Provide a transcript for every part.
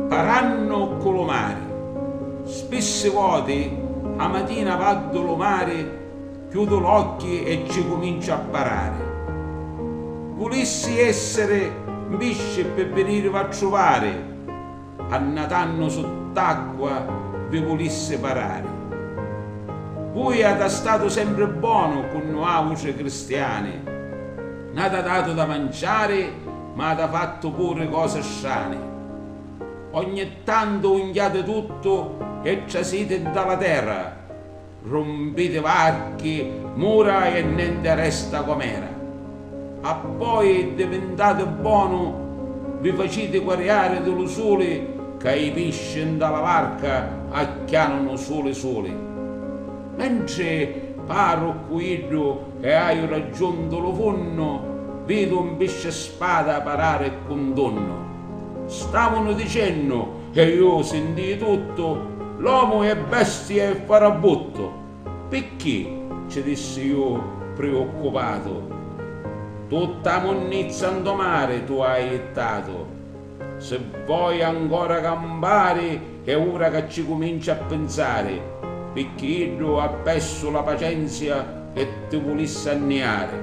Parannu ccu lu mari. Spissi voti a matina vaddu lu mari chiudu l'occhi e cci cuminciu a parari. Vulissi essiri 'n pisci ppi vinirivi a truvari Annatannu sutt'acqua vi vulissi parari. Vui ata statu sempri bonu cu nuautri cristiani, n'ata datu da manciari ma ata fattu puri cosi strani. Ogni tantu unghiati tuttu e trasiti nta la terra. Rumpiti varchi, mura e nenti resta com'era. Appoi divintati bonu vi faciti quariari di lu suli ca i pisci nta la varca acchianunu suli suli. Mentri parru ccu iddu e haiu raggiuntu lu funnu, vidu un piscispada parari ccu un tunnu. Stavunu dicennu Che iu sintii tuttu, L'omu è bestia e farabuttu! Picchì? ci dissi iu priuccupatu, Tutta 'a munnizza 'nto mari tu hai jittatu! Si voi ancora campari è ura ca ci cuminci a pinsari, picchì iddu ha persu la pacenzia e ti vulissi anniari!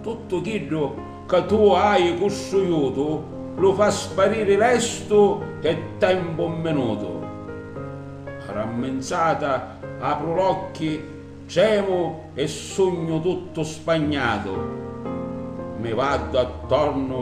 Tuttu chiddu ca tu hai custruiutu lu fa spariri lestu e tempu un minutu. Ramminzata apru l'occhi, tremu e sugnu tuttu spagnatu. Mi vardu attornu